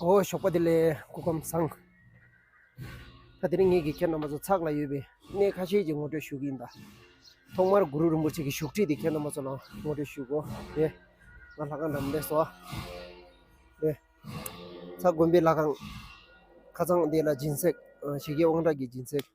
འོ་ཞོགས་པ་དེ་ལས་སྐུ་ཁམས་བཟང། ད་དེ་རིང་ངེད་ཀྱི་ཁྱེད་རྣམ་པ་ཚོ་ཚགས་ལ་ཡོད་པའི་གནས་ཁ་ཤས་ཀྱི་ངོ་སྤྲོད་ཞུ་གི་ཡིན་ད། ཐོག་མར་གུ་རུ་རིན་པོ་ཆེ་གི་བཞུགས་ཁྲི་དེ་ཁྱེད་རྣམ་པ་ཚོ་ལ་ངོ་སྤྲོད་ཞུ་གོ་ཡེ། ང་ལྷ་ཁང་འདྲ་མི་འདྲ་སོ། ཡེ། ཚ་དགོན་པའི་ལྷ་ཁང། ཁ་ཚང་དེ་ལ་སྦྱིན་སྲེག་བྱེད་ཀྱི་དབང་དྲག་གི་སྦྱིན་སྲེག།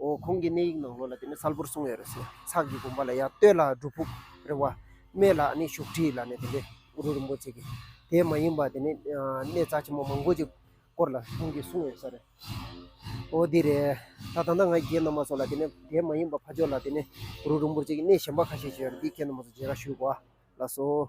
འོ་ཁོང་གི་གནས་ཡིག་ནང་ལོ་ལ་དེ་ནི་གསལ་པོར་གསུངས་ཡོད་རེད་ཟེར། ཚགས་ཀྱི་དགོན་པ་ལ་ཡང་སྟོད་ལ་སྒྲུབ་ཕུག་རེད་བ། སྨད་ལ་ནི་བཞུགས་ཁྲི་ལ་ནི་དེ་ནི་གུ་རུ་རིན་པོ་ཆེ་གི། དེ་མ་ཡིན་པ་དེ་ནི་གནས་རྩ་ཆེན་མོ་མང་པོ་ཅིག་སྐོར་ལ་ཁོང་གིས་གསུངས་ཡོད་ས་རེད། འོ་དེ་རེད། ད་ད་ནངས་ང་རྒྱའི་ནང་མ་སོགས་ལ་དེ་ནི་དེ་མ་ཡིན་པ་ཕ་ཇོ་ལ་དེ་ནི་གུ་རུ་རིན་པོ་ཆེ་གི་གནས་གཞན་པ་ཁ་ཤས་ཤིག་ཡོད་རེད་དེའི་ཁྱད་ནོར་མ་སོགས་རྗེས་ཀ་ཞུས་གོ་ཨ་ལགས་སོ།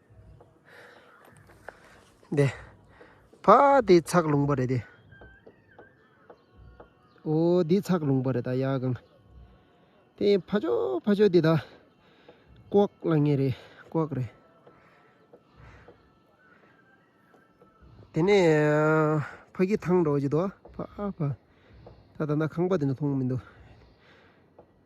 དེ་ཕ་དེ་ཚགས་ལུང་པ་རེད་དེ་འོ་དེ་ཚགས་ལུང་པ་རེད་ད་ཡ་གང་དེ་ཕ་ཅོ་ཕ་ཅོ་དེ་ད་ཀོག་ལ་ངེ་རེད་ཀོག་རེད་དེ་ནས་ཕ་གི་ཐང་འགྲོ་བ་ཅི་དོ་ཕ་ཕ་ད་ད་ན་ཁང་པ་དེ་ནི་མཐོང་མི་འདུག་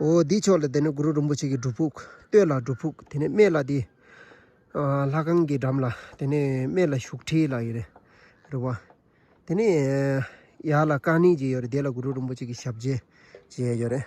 འོ་འདི་ཕྱོགས་ལ་དེ་ནས་གུ་རུ་རིན་པོ་ཆེ་གི་སྒྲུབ་ཕུག་སྟོད་ལ་སྒྲུབ་ཕུག་དེ་ནས་སྨད་ལ་དེ། ལྷ་ཁང་གི་འགྲམ་ལ་དེ་ནས་སྨད་ལ་བཞུགས་ཁྲི་ལ་ཡོད་རེད་རེད་བ། དེ་ནས་ཡར་ལ་ཀ་ནི་ཅེས་ཡོད་རེད་དེ་ལ་གུ་རུ་རིན་པོ་ཆེ་གི་ཞབས་རྗེས་ཅེས་ཡོད་རེད།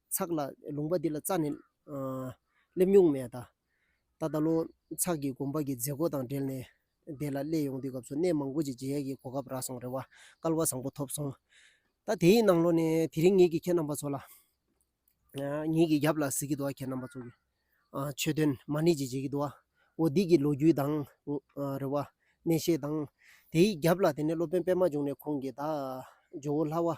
ཚགས་ལ་ལུང་པ་འདི་ལ་རྩ་ནས་སླེབས་མྱོང་མེད། ད་ལྟ་བློ་ཚགས་ཀྱིས་དགོན་པ་གྱི་མཛད་སྒོ་དང་འབྲེལ་ནས་དེ་ལ་སླེབས་ཡོང་དུས་སྐབས་སུ་གནས་མང་པོ་ཅིག་མཇལ་ཡས་ཀྱི་གོ་སྐབས་རག་སོང་རེ་བ་སྐལ་བ་བཟང་པོ་ཐོབ་སོང། ད་དེ་ཡི་ནང་ལོགས་ནས་དེ་རིང་ངེད་ཀྱིས་ཁྱེད་རྣམ་པ་ཚོ་ལ། ངེད་ཀྱི་རྒྱབ་ལ་གཟིགས་ཀྱི་འདུག་ཨ་ཁྱེད་རྣམ་པ་ཚོ་གི་ཆོས་དོན་མ་ཎི་ཅིག་མཇལ་གྱི་འདུག་ཨ། འོ་འདི་གི་ལོ་རྒྱུས་དང། རེ་བ། གནས་བཤད་དང། དེ་ཡི་རྒྱབ་ལ་དེ་ནས་སློབ་དཔོན་པདྨ་འབྱུང་གནས་ཁོང་གིས་བདག། ཇོ་བོ་ལྷ་བ།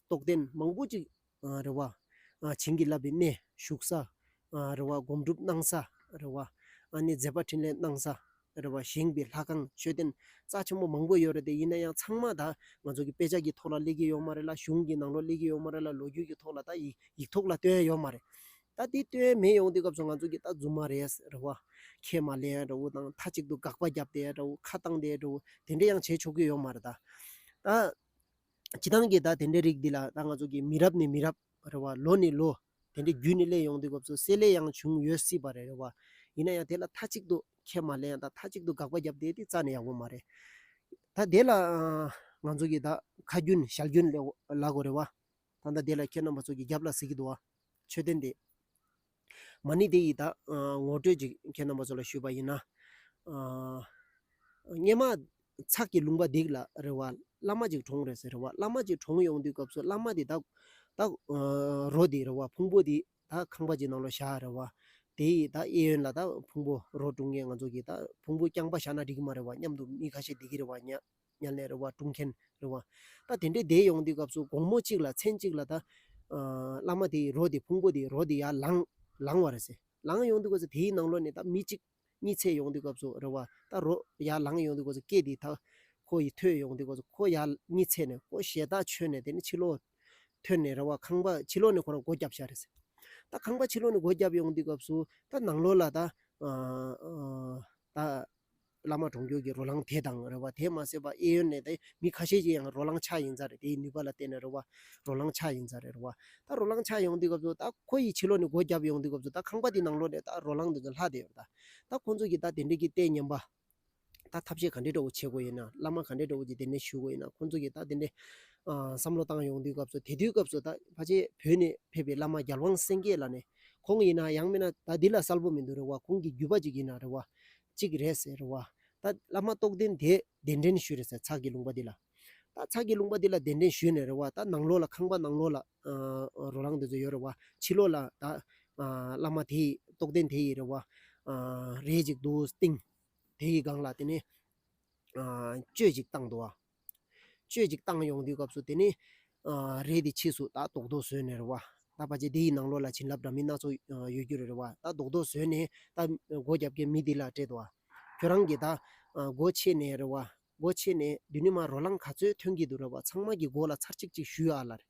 རྟོགས་ལྡན་མང་པོ་ཅིག། རེ་བ། བྱིན་གྱིས་བརླབས་པའི་གནས་བཞུགས་ས། རེ་བ་སྒོམ་སྒྲུབ་གནང་ས། རེ་བ། ནས་མཛད་པ་འཕྲིན་ལས་གནང་ས། རེ་བ་བཞེངས་པའི་ལྷ་ཁང་མཆོད་རྟེན་རྩ་ཆེན་པོ་མང་པོ་ཡོད་རེད་དེ་ཡིན་ན་ཡང་ཚང་མ་ད་ང་ཚོ་གི་དཔེ་ཆ་གི་ཐོག་ལ་གླེགས་ཀྱི་ཡོད་མ་རེད་ལ་གཞུང་གི་ནང་ལོ་གླེགས་ཀྱི་ཡོད་མ་རེད་ལ་ལོ་རྒྱུས་ཀྱི་ཐོག་ལ་ད་ཡིག་ཡིག་ཐོག་ལ་བཏོན་ཡོད་མ་རེད། ད་དེ་བཏོན་མེད་ཡོང་དུས་སྐབས་སུ་ང་ཚོ་གི་ད་རྫུན་མ་རེད་རེ་བ། ཁས་མ་ལེན་རེ་བོ་དང་མཐའ་གཅིག་ཏུ་དགག་པ་བརྒྱབ་སྟེ་རེ་བོ་ཁ་བཏང་སྟེ་རེ་བོ་དེ་འདྲ་ཡང་བྱེད་ཆོག་གི་ཡོད་མ་རེད་ད། ཇི་ལྟར་ཀྱིས་ད་དེ་འདྲའི་རིགས་འདི་ལ་ད་ང་ཚོ་གིས་མི་རབས་ནས་མི་རབས་རེ་བ་ལོ་ནས་ལོ་དེ་འདྲའི་བརྒྱུད་ནས་གླེང་ཡོང་དུས་སྐབས་སུ་བསྲེ་བསླད་ཡང་བྱུང་ཡོད་སྲིད་པ་རེད་བ། ཡིན་ན་ཡང་དེ་ལ་མཐའ་གཅིག་ཏུ་ཁས་མ་ལེན་ད་མཐའ་གཅིག་ཏུ་དགག་པ་བརྒྱབ་བསྡད་དེ་རྩ་ནས་ཡག་པོ་མ་རེད། ད་དེ་ལ་ང་ཚོ་གིས་ད་ཁ་རྒྱུན་ཞལ་རྒྱུན་ལག་གོ་རེད་བ། ད་ལྟ་དེ་ལ་ཁྱེད་རྣམ་པ་ཚོ་གིས་རྒྱབ་ལ་གཟིགས་གི་འདུག་བ། ཆོས་དོན་དེ། མ་ཎི་དེ་ཡིས་ད། ངོ་སྤྲོད་ཅིག་ཁྱེད་རྣམ་པ་ཚོ་ལ་ཞུས་པ་ཡིན། སྙེ་མ། ཚགས་ཀྱི་ལུང་པ་འདེགས་ལ་རེ་བ། བླ་མ་ཅིག་གྲོངས་རེད་ཟེར་རེ་བ། བླ་མ་ཅིག་གྲོངས་ཡོང་དུས་སྐབས་སུ་བླ་མ་དེ་ད། ད། རོ་དེ་རེ་བ། ཕུང་པོ་དེ་ད་ཁང་པ་ཅིག་ནང་ལོ་བཞག་རེ་བ། དེ་ཡིས་ད་གཡས་གཡོན་ལ་ད་ཕུང་པོ་རོ་བཀྲུ་མཁན་ང་ཚོ་གིས་ད་ཕུང་པོ་རྐྱང་པ་བཞག་ན་འགྲིག་གི་མ་རེད་བ་སྙམ་དུ་མི་ཁ་ཤས་བསྡད་ཀྱི་རེད་བ་སྙམ། མཉམ་ལས་རེ་བ་སྐྲུན་མཁན་རེ་བ། ད་དེ་འདྲའི་སྡེ་ཡོང་དུས་སྐབས་སུ་དགོང་མོ་གཅིག་ལ་མཚན་གཅིག་ལ་ད། བླ་མ་དེའི་རོ་དེ་ཕུང་པོ་དེའི་རོ་དེ་ཡར་ལངས། ལངས་བ་རེད་ཟེར། ལངས་ཡོང་དུས་སྐབས་སུ་དེའི་ནང་ལོགས་ནས་ད་མི་གཅིག། གཉིས་ཚད་ཡོང་དུས་སྐབས་སུ་རེ་བ། ད་རོ་ཡར་ལངས་ཡོང་དུས་སྐབས་སུ་སྐད་དེ་ད། ཁོ་ཡི་ཐོས་ཡོང་དུས་སྐབས་སུ་ཁོ་ཡར་གཉིས་ཚད་ནས་ཁོ་ཞལ་ད་ཆོད་ནས་དེ་ནས་ཕྱི་ལོགས། ཐོན་ནས་རེ་བ་ཁང་པ་ཕྱི་ལོགས་ནས་ཁོ་རང་སྒོ་བརྒྱབ་བྱ་རེད་ཟེར། ད་ཁང་པ་ཕྱི་ལོགས་ནས་སྒོ་བརྒྱབ་ཡོང་དུས་སྐབས་སུ་ད་ནང་ལོགས་ལ་ད། བླ་མ་གྲོང་ཁྱེར་གྱི་རོ་ལངས་དེ་དང་རེད་བ། དེས་མ་ཟད་པ་ཨེ་ཡོན་ནས་དང་མི་ཁ་ཤས་ཀྱི་ཡང་རོ་ལངས་ཆགས་ཡིན་ས་རེད་དེའི་ནུས་པ་ལ་བརྟེན་ནས་རེད་བ། རོ་ལངས་ཆགས་ཡིན་ས་རེད་རེད་བ། ད་རོ་ལངས་ཆགས་ཡོང་དུས་སྐབས་སུ་ད་ཁོ་ཡི་ཕྱི་ལོག་ནས་སྒོ་བརྒྱབ་ཡོང་དུས་སྐབས་སུ་ད་ཁང་པ་དེའི་ནང་ལོག་ནས་ད་རོ་ལངས་འདི་ཚོ་ལྷག་བསྡད་ཡོད་ད། ད་ཁོང་ཚོ་གྱིས་ད་དེ་འདྲས་ཀྱི་ལྟས་ཉམས་པ། ད་ཐབས་ཤེས་ག་འདྲས་འདྲ་བོ་བྱེད་དགོས་ཡོད་ན་བླ་མ་ག་འདྲས་འདྲ་བོ་གྱིས་དེ་འདྲས་ཞུ་དགོས་ཡོད་ན་ཁོང་ཚོ་གྱིས་ད་དེ་འདྲས། བསམ་བློ་བཏང་ཡོང་དུས་སྐབས་སུ་དེ་དུས་སྐབས་སུ་ད་ཕ་ཆེ་བོད་ནས་ཕེབས་པའི་བླ་མ་རྒྱལ་དབང་སེང་གེ་ལ་ནས། ཁོང་ཡིན་ན་ཡང་མིན་ན་ད་འདི་ལ་གསལ་པོ་མི་འདུག་རེད་བ་ཁོང་གི་རྒྱུད་པ་ཅིག་ཡིན་ན་རེད་བ། གཅིག་རེད་ཟེར་བ། ད་བླ་མ་རྟོགས་ལྡན་དེས་གདན་འདྲེན་ཞུས་རེད་ཟེར་ཚགས་ཀྱི་ལུང་པ་འདི་ལ། ད་ཚགས་ཀྱི་ལུང་པ་འདི་ལ་གདན་འདྲེན་ཞུས་ནས་རེད་བ། ད་ནང་ལོགས་ལ་ཁང་པ་ནང་ལོགས་ལ་རོ་ལངས་དེ་ཚོ་ཡོད་རེད་བ། ཕྱི་ལོགས་ལ་ད་བླ་མ་དེ་ཡི་རྟོགས་ལྡན་དེ་ཡི་རེད་བ། རས་ཅིག་འདུག་སྟེང། དེ་ཡི་སྒང་ལ་དེ་ནས། གཅོད་ཅིག་བཏང་འདུག་བ། སྤྱོད་ཅིག་བཏང་ཡོང་དུས་སྐབས་སུ་དེ་ནི། རེད་དེ་ཕྱིས་སུ་ད་རྡོག་རྡོག་བཟོས་ནས་རེད་བ། ད་བ་ཅས་དེ་ཡི་ནང་ལོགས་ལ་བྱིན་རླབས་འདྲ་མིན་སྣ་ཚོགས་ཡོད་རྒྱུ་རེད་རེད་བ། ད་རྡོག་རྡོག་བཟོས་ནས་ད། སྒོ་རྒྱབ་ཀའི་མི་དེ་ལ་སྤྲད་དོ། ཁྱོད་རང་གིས་ད། སྒོ་ཕྱེས་ནས་རེད་བ། སྒོ་ཕྱེས་ནས་དུས་ནི་མ་རོ་ལངས་ག་ཚོད་ཐོན་གྱི་འདུག་རེད་བ་ཚང་མ་གྱི་སྒོ་ལ་ཚར་གཅིག་ཅིག་གཞུས་ཨ་ལ། རེད།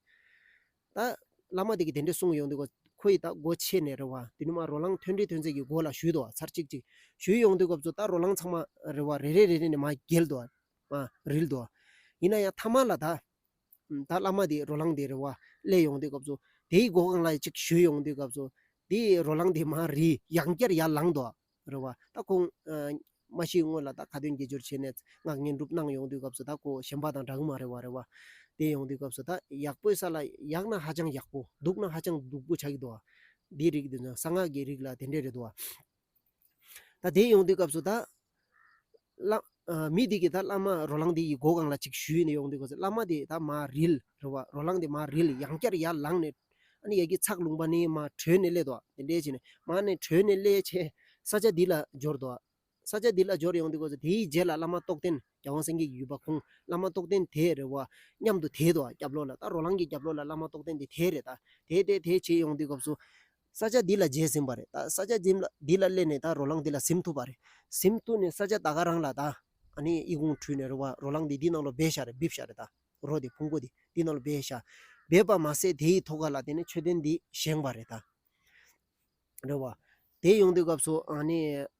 ད། བླ་མ་དེ་གིས་དེ་འདྲས་གསུངས་ཡོང་དུས་སྐབས་ཁོ་ཡིས་ད་སྒོ་ཕྱེས་ནས་རེད་བ་དུས་ནི་མ་རོ་ལངས་ཐོན་འདྲའི་ཐོན་ཚད་ཀྱི་སྒོ་ལ་གཞུས་ཏོ་ཚར་གཅིག་ཅིག་གཞུས་ཡོང་དུས་སྐབས་སུ་ད་རོ་ལངས་ཚང་མ་རེད་བ་རེ་རེ་རེ་རེ་ནས་མ་བརྒལ་ཏོ། མ་རིལ་ཏོ། ཡིན་ན་ཡང་ཐ་མ་ལ་དག། ད་བླ་མ་དེས་རོ་ལངས་དེ་རེ་བ་སླད་ཡོང་དུས་སྐབས་སུ། དེའི་སྒོ་ཁང་ལ་ཅིག་ཞུས་ཡོང་དུས་སྐབས་སུ། དེས་རོ་ལངས་དེ་མ་རིལ་ཡང་བསྐྱར་ཡར་ལངས་ཏོ། རེ་བ། ད་ཁོང། མ་ཤི་སྔོན་ལ་ད་ཁ་ཏོན་དགེ་སྦྱོར་བྱས་ནས་སྔགས་བསྙེན་སྒྲུབ་གནང་ཡོང་དུས་སྐབས་སུ་ད་ཁོ་གཞན་པ་དང་འདྲ་གི་མ་རེ་བ་རེ་བ། དེ་ཡོང་དུས་སྐབས་སུ་ད་ཡག་པོའི་ས་ལ་ཡག་ན་ཧ་ཅང་ཡག་པོ་སྡུག་ན་ཧ་ཅང་སྡུག་པོ་ཆགས་ཀྱི་འདུག། འདིའི་རིགས་འདི་ནི་གསང་སྔགས་ཀྱི་རིགས་ལ་དེ་འདྲས་རེད་དོ། ད་དེ་ཡོང་དུས་སྐབས་སུ་ད། བླ། མི་དེ་གིས་ད་བླ་མ་རོ་ལངས་དེ་ཡི་མགོ་གང་ལ་ཅིག་གཞུས་ནས་ཡོང་དུས་སྐབས་སུ་བླ་མ་དེས་ད་མ་རིལ། རེད་བ། རོ་ལངས་དེ་མ་རིལ་ཡང་བསྐྱར་ཡར་ལངས་ནས། ཨ་ནི་ཡ་གི་ཚགས་ལུང་པ་ནི་མ་བྲོས་ནས་སླེད་དོ། དེ་འདྲས་བྱས་ནས། མ་ནི་བྲོས་ནས་སླེད་ཆེད། ས་ཆ་འདི་ལ་འབྱོར་དོ། ས་ཆ་འདི་ལ་འབྱོར་ཡོང་དུས་སྐབས་སུ་དེའི་རྗེས་ལ་བླ་མ་རྟོགས་ལྡན་རྒྱལ་དབང་སེང་གེ་ཡོད་པ་ཁོང་བླ་མ་རྟོགས་ལྡན་དེ་རེད་བ། མཉམ་དུ་དེད་དོ། རྒྱབ་ལོགས་ལ་ད་རོ་ལངས་ཀྱི་རྒྱབ་ལོགས་ལ་བླ་མ་རྟོགས་ལྡན་དེ་དེད་རེད་ད། དེད་དེད་དེད་བྱས་ཡོང་དུས་སྐབས་སུ། ས་ཆ་འདི་ལ་འཇལ་ཟིན་པ་རེད་ད། ས་ཆ་འདི་ལ་སླེབས་ནས་ད་རོ་ལངས་འདི་ལ་གཟིམ་ཐུབ་པ་རེད། གཟིམ་ཐུབ་ནས་ས་ཆ་ད་ག་རང་ལ་ད། ཨ་ནི་དབྱི་གུང་ཁྲུས་ནས་རོ་བ་རོ་ལངས་འདི་འདི་ནང་ལོ་སྦས་ཤ་རེད་སྦིབ་ཤ་རེད་ད། རོ་དེ་ཕུང་པོ་དེ་འདི་ནང་ལོ་སྦས་ཤ། སྦས་པ་མ་ཟད་དེ་ཡི་ཐོ་ག་ལ་དེ་ནས་མཆོད་རྟེན་འདི་བཞེངས་པ་རེད་ད། རེད་བ། དེ་ཡོང་དུས་སྐབས་སུ་ཨ་ནི།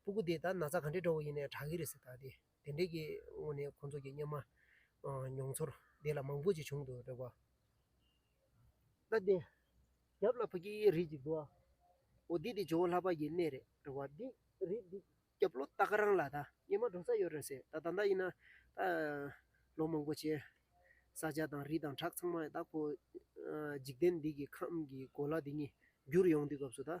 སྤུ་གུ་དེ་ད་ན་ཚ་ག་འདྲེ་འདྲ་བོ་ཡིན་ནས་དྲག་གི་རེད་ཟེར་ད་དེ་དེ་འདྲས་ཀྱི་ངོ་ནས་ཁོང་ཚོ་གྱི་སྙེ་མ་མྱོང་ཚོར་དེ་ལ་མང་པོ་ཅིག་བྱུང་འདུག་འདྲ་བ། ད་དེ་རྒྱབ་ལ་ཕ་གི་རིགས་ཅིག་འདུག་ཨོ་དེ་དེ་ཇོ་བོ་ལྷ་པ་ཡི་གནས་རེད་འདྲ་བ་དེ་རིགས་འདི་རྒྱབ་ལོ་ད་ག་རང་ལ་ད་སྙེ་མ་འགྲོ་ས་ཡོད་རེད་ཟེར་ད་ད་ལྟ་ཡིན་ན་ད་ལོ་མང་པོ་བྱས་ས་སྤྱ་དང་རི་དང་བྲག་ཚང་མ་ད་ཁོ་འཇིག་རྟེན་འདི་གི་ཁམས་ཀྱི་གོ་ལ་དེ་གཉིས་བསྒྱུར་ཡོང་དུས་སྐབས་སུ་ད།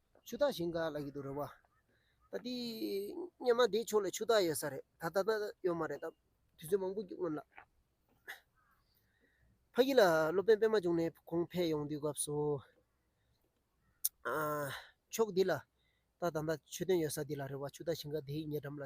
ཆུ་རྟགས་བཞིན་ག་ལ་ཡོད་དུ་རུང་བ། ད་དེ་སྙེ་མ་དེའི་ཕྱོགས་ལ་ཆུ་རྟགས་ཡོད་ས་རེད་ད་ལྟ་ན་ཡོད་མ་རེད་ད་དུས་ཚོད་མང་པོ་བརྒྱུད་སྔོན་ལ། ཕ་ཡུལ་ལ་སློབ་དཔོན་པད་མ་བྱུང་ནས་གོང་འཕེལ་ཡོང་དུས་སྐབས་སུ། ཕྱོགས་འདི་ལ་ད་ད་ལྟ་ཆུ་དོན་ཡོད་ས་འདི་ལ་རེད་བ་ཆུ་རྟགས་བཞིན་ག་དེའི་ཉེ་འགྲམ་ལ།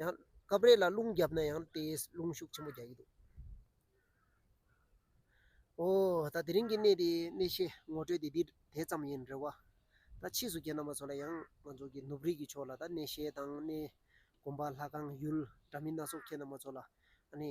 ཡང་སྐབས་རེ་ལ་རླུང་རྒྱབ་ན་ཡང་དེས་རླུང་ཤུགས་ཆེན་པོ་རྒྱག་གི་འདུག། ཨོ། ད་དེ་རིང་གི་གནས་དེའི་གནས་བཤད་ངོ་སྤྲོད་དེ་འདི་དེ་ཙམ་ཡིན་རེད་བ། ད་ཕྱིས་སུ་རྒྱལ་ནང་པ་ཚོ་ལ་ཡང་ང་ཚོ་གི་ནུབ་རིས་ཀྱི་ཕྱོགས་ལ་ད་གནས་བཤད་དང་གནས་གོམ་པ་ལྷ་ཁང་ཡུལ་འདྲ་མིན་སྣ་ཚོགས་ཁྱེད་རྣམ་པ་ཚོ་ལ་ཨ་ནི།